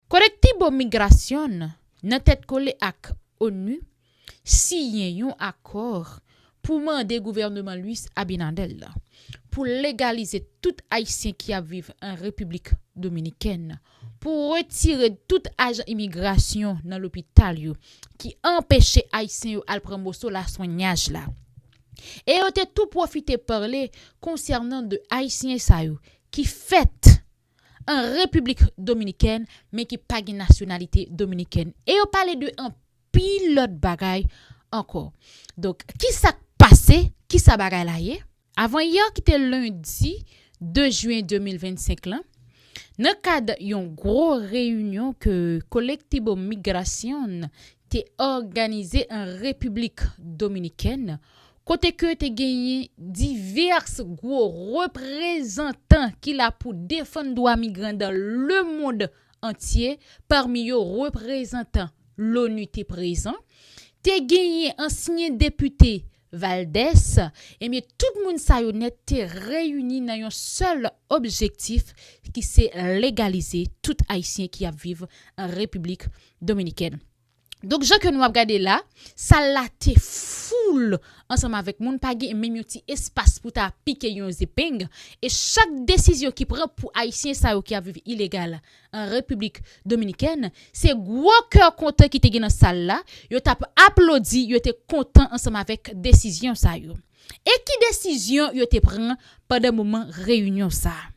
Colectivo Migración, nan tèt kole ak onu, siyen yon akò pou mande gouvèneman Luis Abinader la pou legalize tout ayisyen ki ap viv an Repiblik Dominikèn, pou retire tout ajan imigrasyon nan lopital yo ki anpeche ayisyen yo al pran moso laswenyaj la. E yo te tou pwofite pale konsènan 2 ayisyen sa yo ki fèt an Repiblik Dominikèn men ki pa gen nasyonalite dominikèn. E yo pale de anpil lòt bagay ankò. Donk, ki sa k pase? Ki sa bagay la ye? Avanyè ki te lendi 2 jyen 2025 lan, nan kad yon gwo reyinyon ke Colectivo Migración, te òganize an Repiblik Dominikèn kote ke te genyen divès gwo reprezantan ki la pou defann dwa migran dan le mond antye pami yo reprezantan l'ONU te prezan, te genyen ansyen depite Valdès, Ebyen tout moun sa yo nèt te reyini nan yon sèl objektif ki se legalize tout Ayisyen ki ap viv an Repiblik Dominikèn. Donk jan ke nou ap gade la, sal la te foul ansanm avèk moun, pa gen menm yon ti espas pou ta pike yon zepeng e chak desizyon ki pran pou Ayisyen sa yo ki ap viv ilegal An Repiblik Dominikèn, se gwo kè kontan ki te gen nan sal la, yo t ap aplodi, yo te kontan ansanm avèk desizyon sa yo. E ki desizyon yo te pran pandan moman reyinyon sa a?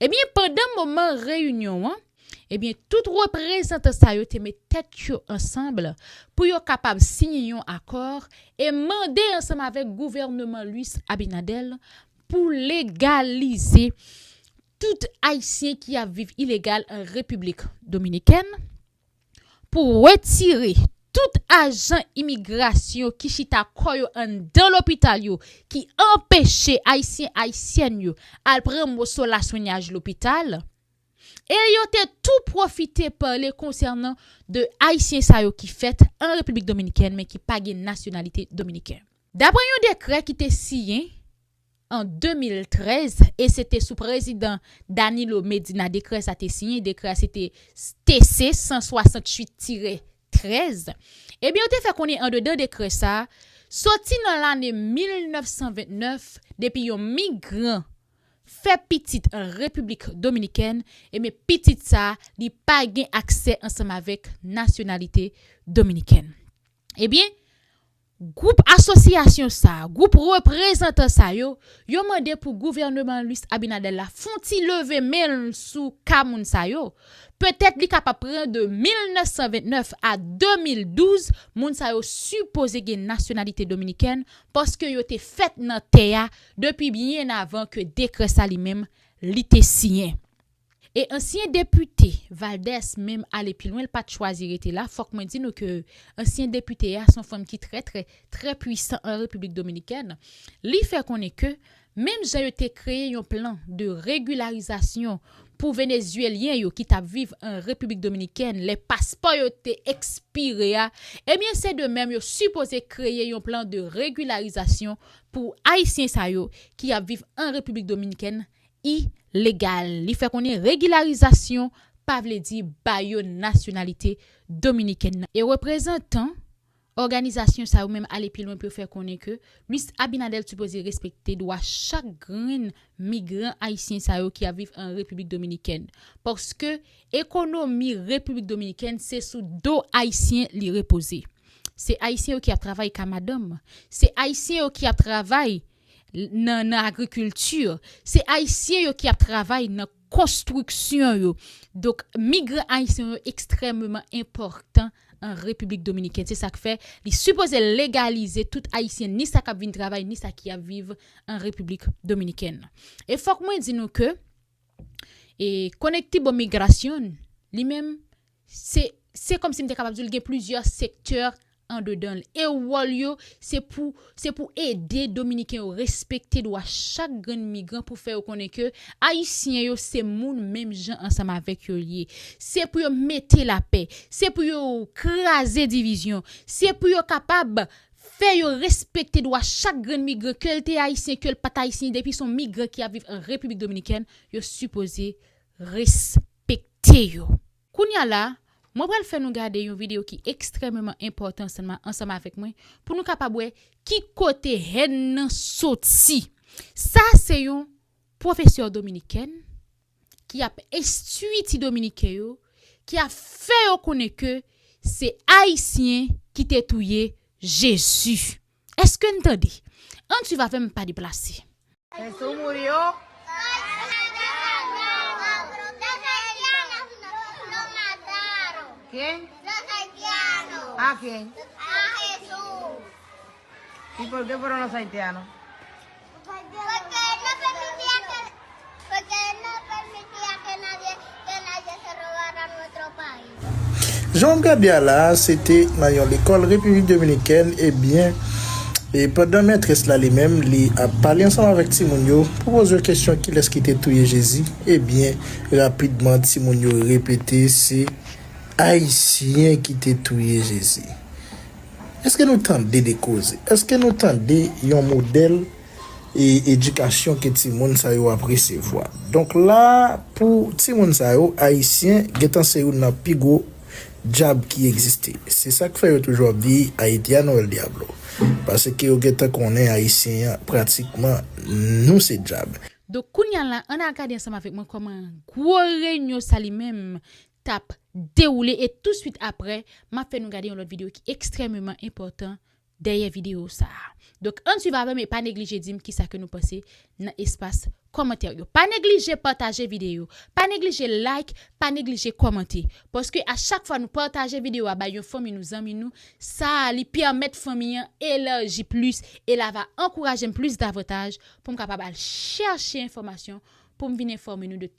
Ebyen, pandan moman reyinyon an, ebyen, tout reprezantan sa yo te met tèt yo ansanm pou yo kapab siyen yon akò e mande ansanm avèk gouvèneman Luis Abinader pou legalize tout ayisyen ki ap viv ilegal an Repiblik Dominikèn, pou wetire tout ajan imigrasyon ki chita kò yo anndan lopital yo ki anpeche ayisyen ayisyèn yo al pran moso laswenyaj lopital, e yo te tou pwofite pale konsènan 2 ayisyen sa yo ki fèt an Repiblik Dominikèn men ki pa gen nasyonalite dominiken. Daprè yon dekrè ki te siyen an 2013 e se te sou prezidan Danilo Medina dekrè sa te siyen, dekrè a se te TC 168 tire 13, ebyen yo te fè konnen andedan dekrè sa, soti nan lane 1929 depi yon migran fè pitit an Repiblik Dominikèn ebyen pitit sa li pa gen aksè ansanm avèk nasyonalite Dominikèn. Ebyen, gwoup asosyasyon sa, gwoup reprezantan sa yo, yo mande pou gouvèneman Luis Abinader la fon ti leve men l sou ka moun sa yo. Petèt li kapab pran de 1929 a 2012, moun sa yo sipoze gen nasyonalite dominikèn paske yo te fèt nan tè a depi byen avan ke dekrè sa li menm li te siyen. E ansyen depite Valdès menm ale pi lwen l pat chwazi rete la, fòk mwen di nou ke ansyen depite a son fanm ki trè trè trè pwisan an Repiblik Dominikèn, li fè konnen ke menm jan yo te kreye yon plan de regilarizasyon pou Venezyelyen yo ki tap viv an Repiblik Dominikèn lè paspò yo te ekspire a, ebyen se de menm yo sipoze kreye yon plan de regilarizasyon pou Ayisyen sa yo ki ap viv an Repiblik Dominikèn I. Legal, li fè konnen regilarizasyon pa vle di ba yo nasyonalite dominikèn nan. E reprezantan òganizasyon sa yo menm ale pi lwen pou yo fè konnen ke Luis Abinader sipoze respekte dwa chak grenn migran ayisyen sa yo ki ap viv an Repiblik Dominikèn. Paske ekonomi Repiblik Dominikèn se sou do ayisyen li repoze. Se ayisyen yo ki ap travay ka madanm. Se ayisyen yo ki ap travay. nan agrikilti, se ayisyen yo ki ap travay nan konstriksyon yo. Donk migran ayisyen yo ekstrèmeman enpòtan an Repiblik Dominikèn. Se sa k fè li sipoze legalize tout ayisyen ni sa k ap vin travay ni sa ki ap viv an Repiblik Dominikèn. E fòk mwen di nou ke Conectibomigracion li menm Se se kòmsi m te kapab di w li gen plizyè sektè andedan l e wòl yo se pou se pou ede dominiken yo respekte dwa chak grenn migran pou fè yo konnen ke ayisyen yo se moun menm jan ansanm avèk yo ye se pou yo mete lapè se pou yo kraze divizyon se pou yo kapab fè yo respekte dwa chak grenn migran ke l te ayisyen ke l pa t ayisyen depi son migran ki ap viv an repiblik dominikèn yo sipoze respekte yo. Kounya la, mwen pral fè nou gade yon videyo ki ekstrèmeman enpòtan ansanm avèk mwen pou nou kapab wè ki kote hèn nan soti. Sa se yon pwofesè dominikèn ki ap enstwi ti dominiken yo, ki ap fè yo konnen ke se ayisyen ki te touye Jezi. Eske n tande? An swiv avè m pa deplase. Fè sou moun yo. Ken? A ken? A Jesús. E por que fueron los haitianos? Jan w ap gade a la a, se te nan yon lekòl Repiblik Dominikèn, ebyen, e pandan mètrès la li menm li ap pale ansanm avèk timoun yo pou poze yo kesyon kilès ki te touye Jezi, ebyen, rapidman timoun yo repete se Ayisyen ki te touye Jezi. Eske nou tande de koze? Eske nou tande yon modèl e edikasyon ke ti moun sa yo ap resevwa? Donk la pou ti moun sa yo, Ayisyen gentan se youn nan pi gwo dyab ki egziste. Se sak fè yo toujou ap di Haitiano el diablo. Paske yo gentan konnen Ayisyen an pratikman nou se dyab. Donk kounya la an al gade ansanm avèk mwen kòman gwo renyon sa li menm tap dewoule e tou swit aprè map fè nou gade yon lòt video ki ekstrèmeman enpòtan dèyè video sa donk ann swiv avèm e pa neglije dim kisa ke nou panse nan espas kòmantè yo pa neglije pataje video pa neglije like pa neglije kòmante paske a chak fwa nou pataje video a bay yon fanmi nou zanmi nou sa li pèmèt fanmi an elarji plis e la va ankourajem plis davantaj poum kapab al chèche enfòmasyon poum vin enfòme nou de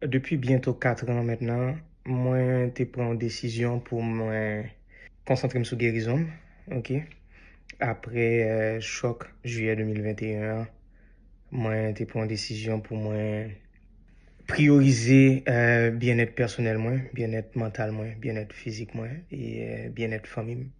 Depi byento 4 an mentnan, mwen te pran yon desizyon pou mwen konsantre m sou gerizon m, ok. Apre chòk jiyè 2021 an, mwen te pran yon desizyon pou mwen priyorize byennèt pèsonèl mwen, byennèt mantal mwen, byennèt fizik mwen e byennèt fanmi m.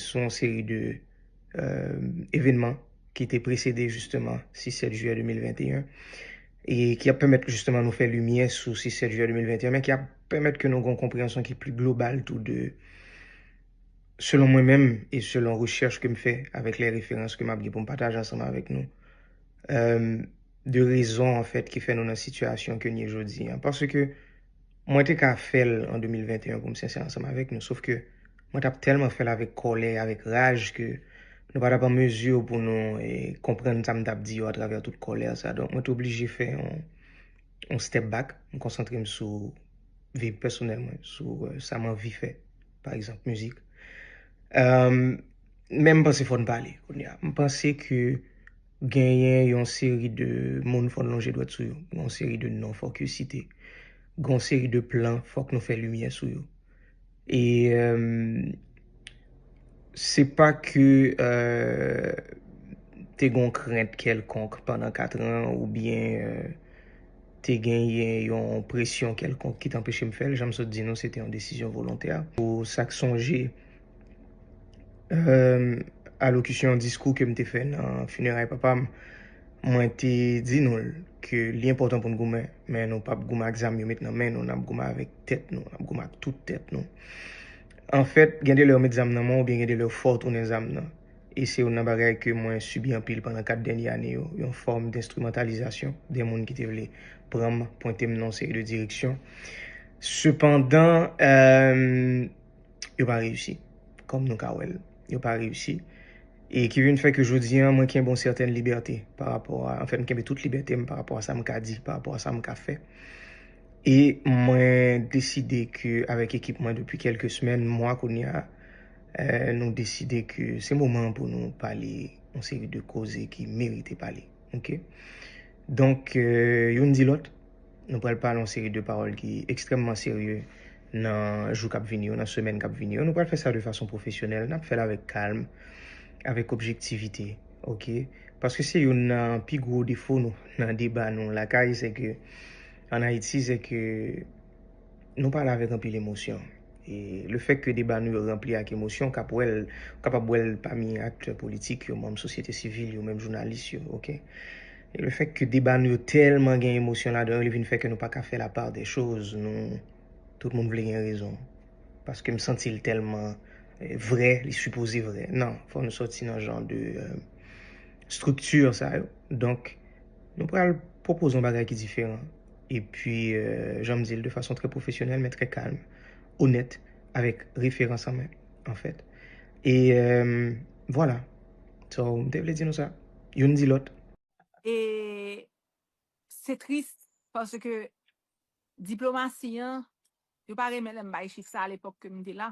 sou yon seri de evenman ki te presede jisteman 6-7 jiyè 2021 e ki ap pèmèt jisteman nou fè limyè sou 6-7 jiyè 2021 men ki ap pèmèt ke nou gen yon konpreyansyon ki pli global tou de selon mwen menm e selon rechèch ke m fè avèk lè referans ke m ap gen pou m pataje ansanm avèk nou de rezon anfèt ki fè nou nan sitiyasyon ke n ye jodi an paske Mwen te ka fè l an 2021 pou m sensè ansanm avèk nou, sof ke mwen t ap tèlman fè l avèk kòlè, avèk raj ke nou pa t ap an mezi pou nou konprann sa m t ap di yo atravè tout kòlè sa. Donk mwen te oblije fè yon step back, m konsantre m sou vi pèsonèl mwen, sou sa m anvi fè, pa egzanp mizik. Men m panse fò n pale kounye a. M panse ke. Genyen yon seri de moun fò n lonje dwèt sou yo. Gon seri de non fòk yo site. Gon seri de plan fòk nou fè limyè sou yo. E se pa ke te gon krent kèlkonk pandan katran oubyen te genyen yon presyon kèlkonk ki te anpeche m fè l. Jan m sot di nou se te yon desizyon volontè. Pou sa k sonje. alokisyon, diskou ke m te fè nan fineray papa m, mwen te di nou l ke li enpòtan pou n goumen, men nou pap goumen ak zam yo met nan men nou, n ap goumen avèk tèt nou, n ap goumen ak tout tèt nou. Anfèt, gen de lè ou met zam nan men w oubyen gen de lè ou fè w tounen zam nan. E se youn nan bagay ke mwen sibi anpil pandan 4 dènye ane yo, yon fòm denstrimantalizasyon de moun ki te vle pran m, pwente m nan yon seri de direksyon. Sepandan. yo pa reyisi. Kòm nou ka wè l, yo pa reyisi. E ki vin fè ke jodi an, mwen kenbe yon sètèn libète pa rapò a, anfen m kenbe tout libète m pa rapò a sa m ka di, pa rapò a sa m ka fè. E mwen deside ke avèk ekip mwen depi kèlke semèn, mwa kounye a, nou deside ke se moman an pou nou pale yon seri de koze ki merite pale. Ok? Donk, youn di lòt. Nou pral pale yon seri de pawòl ki ekstrèmman serye nan jou k ap vini yo, nan semèn k ap vini yo. Nou pral fè sa de fason pwofesyonèl, n ap fè l avèk kalm, avèk objektivite, oke. Paske se youn nan pi gwo defo nou nan deba nou lakay, se ke, ann Ayiti, se ke. Nou pale avèk anpil emosyon. E lefèt ke deba nou yo ranpli ak emosyon, w kap wè l, w kapab wè l pami aktè politik yo, manm sosyete sivil yo, menm jounalis yo, ok. E lefèt ke deba nou yo tèlman gen emosyon ladan yo, li vin fè ke nou pa ka fè la part des choses, nou, tout moun vle gen rezon. Paske m santi l tèlman vrè, li sipoze vrè. Non, fò nou sòti nan jan de structure sa yo. Donk, nou pral pwopoze yon bagay ki diferan. E pi, jan m di l, de fason trè pwofesyonèl men trè kalm, onèt, avèk referans an men, anfèt. E, vwala. So, m te vle di nou sa. Youn di lòt. E, se tris, paske diplomasi an, yo pa renmen lè m bay chif sa alepòk ke m te la.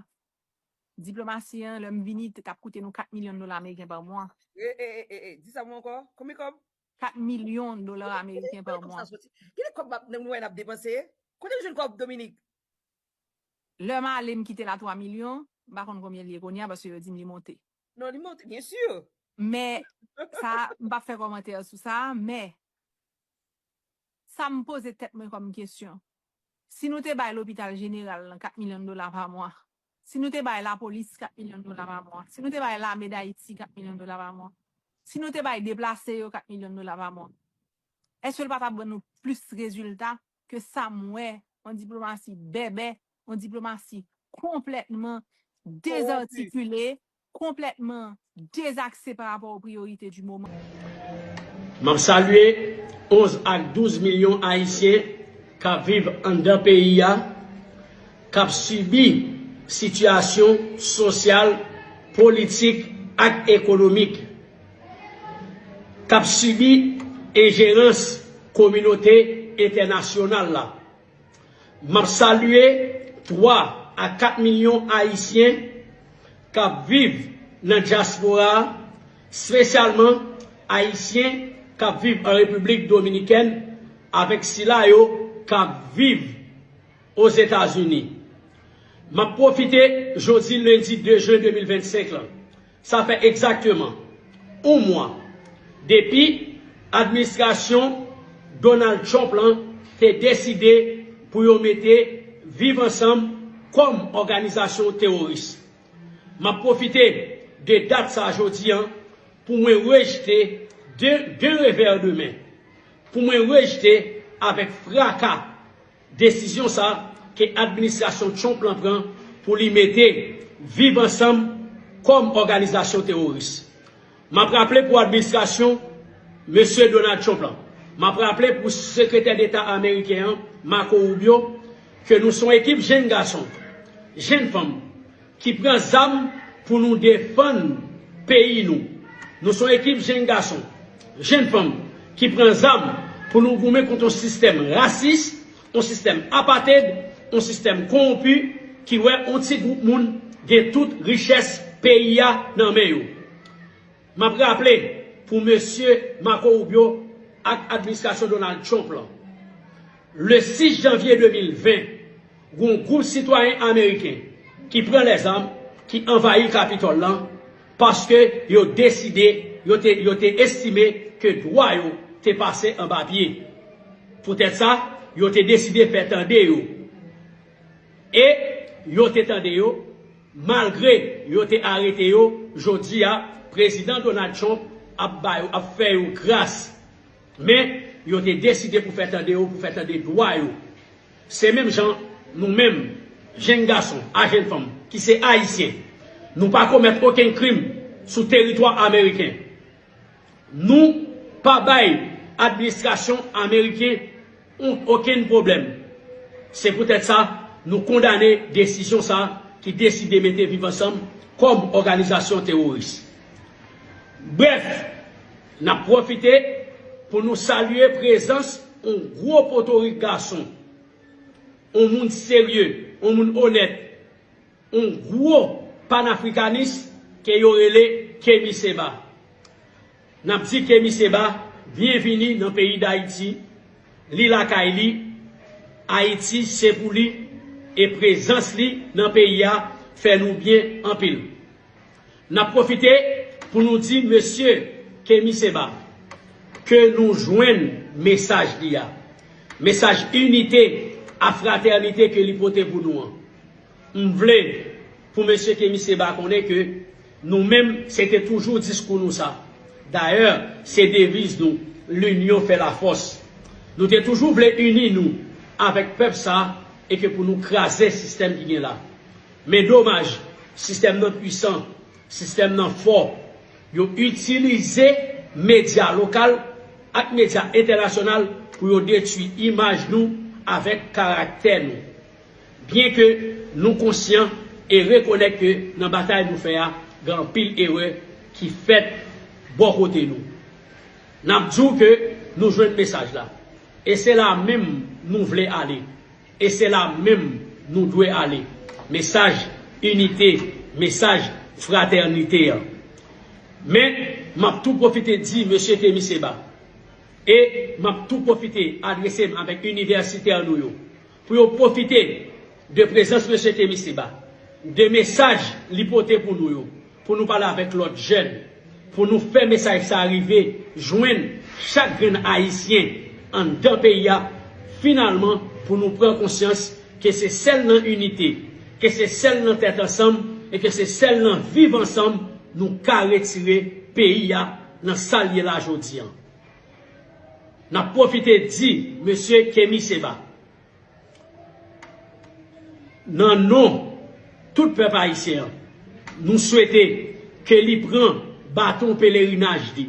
Diplomasi an, lè m vini, te t ap koute nou 4 milyon dola ameriken pa mwa. E, e, e, e, e, di sa pou m ankò. Konbyen kòb? 4 milyon dola ameriken pa mwa. Kile kob map nan mwen ap depanse? Kotem jwenn kob Dominique? Lèm ale m kitel a 3 milyon, m pa konn konbyen li ye kounye a paske yo dim li monte. Non li monte byen sur. Men sa m pap fè kòmantè sou sa men sa m poze tèt mwen kòm kesyon Si nou te bay lopital jeneral lan 4 milyon dola pa mwa, si nou te bay lapolis 4 milyon dola pa mwa, si nou te bay lame Dayiti 4 milyon dola pa mwa, si nou te bay deplase yo 4 milyon dola pa mwa, èske l pa t ap ban nou plis rezilta ke sa m wè, yon diplomasi bèbè, yon diplomasi konplètman dezartikile, konplètman dezakse pa rapò o priyorite di moman. M ap salye 11 ak 12 milyon Ayisyen k ap viv anndan peyi a, k ap sibi sitiyasyon sosyal, politik ak ekonomik, k ap sibi enjerans kominote entènasyonal la. Map salye 3 a 4 milyon ayisyen kap viv nan dyaspora a, spesyalman ayisyen kap viv an Repiblik Dominikèn avèk sila yo kap viv Ozetazini. Map pwofite jodi lendi 2 jen 2025 lan Sa fè egzakteman yon mwa depi administrasyon Donald Trump lan te deside pou yo mete Viv Ansanm kòm òganizasyon teworis. M ap pwofite de dat sa jodi an pou mwen rejte d'un revers de main, pou mwen rejte avèk fraka, Desizyon sa ke administrasyon Trump lan pran pou li mete Viv Ansanm kòm òganizasyon teworis. Map raple pou administrasyon Mesye Donald Trump lan, map raple pou Sekretè Deta Ameriken an Marco Rubio ke nou son ekip jenn gason, jenn fanm, Ki pran zam pou nou defann peyi nou. Nou son ekip jenn gason, jenn fanm ki pran zam pou nou goumen kont yon sistèm rasis, yon sistèm apated, yon sistèm kowonpi ki wè yon ti gwoup moun gen tout richès peyi a nan men yo. Map raple pou mesye Marco Rubio ak administrasyon Donald Trump lan, le 6 janvye 2020, gon gwoup sitwayen ameriken ki pran lèzam ki anvayi Capitol lan paske yo deside, yo te, yo te estime ke dwa yo te pase anba pye. Poutèt sa, yo te deside fè tande yo. E yo te tande yo, malgre yo te arete yo, jodi a, Prezidan Donald Trump ap ba yo, ap fè yo gras. Men, yo te deside pou fè tande yo, pou fè tande dwa yo. Se menm jan nou menm, jenn gason ak jenn fanm ki se Ayisyen, nou pa komèt okenn krim sou teritwa ameriken. Nou pa bay administrasyon ameriken Oun okenn pwoblèm. Se poutèt sa, nou kondane desizyon sa a ki deside mete Viv Ansanm kòm òganizasyon teworis. Brèf, n ap pwofite pou nou salye prezans oun gwo potorik gason, oun moun serye, oun moun onèt, oun gwo panafrikanis ke yo rele Kemi Seba. Nap di Kemi Seba byenvini nan peyi Dayiti, li lakay li, Ayiti se pou li e prezans li nan peyi a fè nou byen anpil. Nap pwofite pou nou di mesye Kemi Seba ke nou jwenn mesaj li a, mesaj inite a fratènite ke li pote pou nou an. M vle pou Mesye Kemi Seba konnen ke nou menm se te toujou diskou nou sa. Dayè, se deviz nou, L'union fait la force. Nou te toujou vle ini nou avèk pèp sa e ke pou nou kraze sistèm ki gen la. Men domaj, sistèm nan pwisan, sistèm nan fò. Yo itilize medya lokal ak medya entènasyonal pou yo detwi imaj nou avèk karaktè nou. Byen ke nou konsyan e rekonèt ke nan batay nou fè a gen anpil erè ki fèt bò kote nou. N ap di w ke nou jwenn mesaj la. E se la menm nou vle ale. E se la menm nou dwe ale. Mesaj inite, mesaj fratènite an. Men, m ap tou pwofite di Mesye Kemi Seba, e m ap tou pwofite adrese m avèk inivèsitè nou yo, pou yo pwofite de prezans Mesye Temisiba, de mesaj li pote pou nou yo, pou nou pale avèk lòt jèn, pou nou fè mesaj sa a rive jwenn chak grenn Ayisyen anndan peyi a, finalman pou nou pran konsyans ke se sèl nan inite, ke se sèl nan tèt ansanm e ke se sèl nan viv ansanm nou ka retire peyi a nan sa l ye la jodi an. N ap pwofite di mesye Kemi Seba, nan non tout pèp ayisyen an, nou swete ke li pran baton pelerinaj li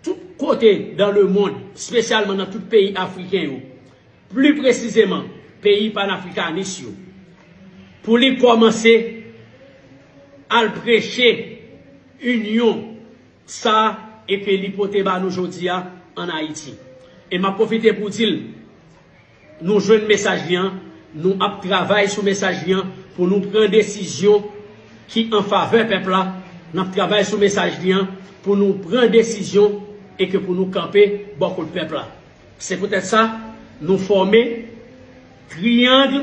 tout kote dan lemond, spesyalman nan tout peyi afriken yo, pli presizeman peyi panafrikanis yo, pou li kòmanse al preche inyon. Sa e ke li pote ba nou jodi a an Ayiti. E m ap pwofite pou di l nou jwenn mesaj li an, nou ap travay sou mesaj li an pou nou pran desizyon ki an favè pèp la, n ap travay sou mesaj li an pou nou pran desizyon e ke pou nou kanpe bò kot pèp la. Se poutèt sa nou fòme triyang.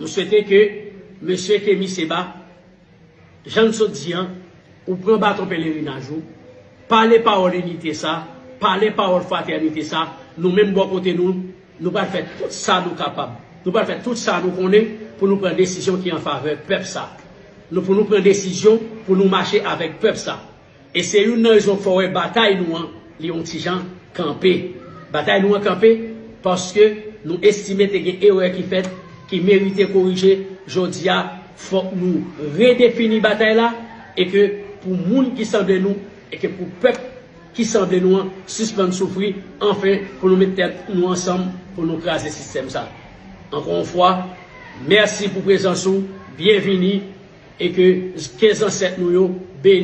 M swete ke Mesye Kemi Seba, jan n sot di an, ou pran baton pelerinaj ou, pale pawòl inite sa, pale pawòl fratènite sa, nou menm bò kote nou, nou pral fè tout sa nou kapab, nou pral fè tout sa nou konnen pou nou pran desizyon ki an favè pèp sa. Nou pou nou pran desizyon pou nou mache avèk pèp sa. E se youn nan rezon fò wè batay nou an li yon ti jan kanpe. Batay nou an kanpe paske nou estime te gen erè ki fèt ki merite korije, jodi a fòk nou redefini batay la e ke pou moun ki sanble nou e ke pou pèp ki sanble nou an sispann soufri anfen pou nou met tèt nou ansanm pou nou kraze sistèm sa. Ankò yon fwa mèsi pou prezans ou, byenvini e ke zansèt nou yo beni.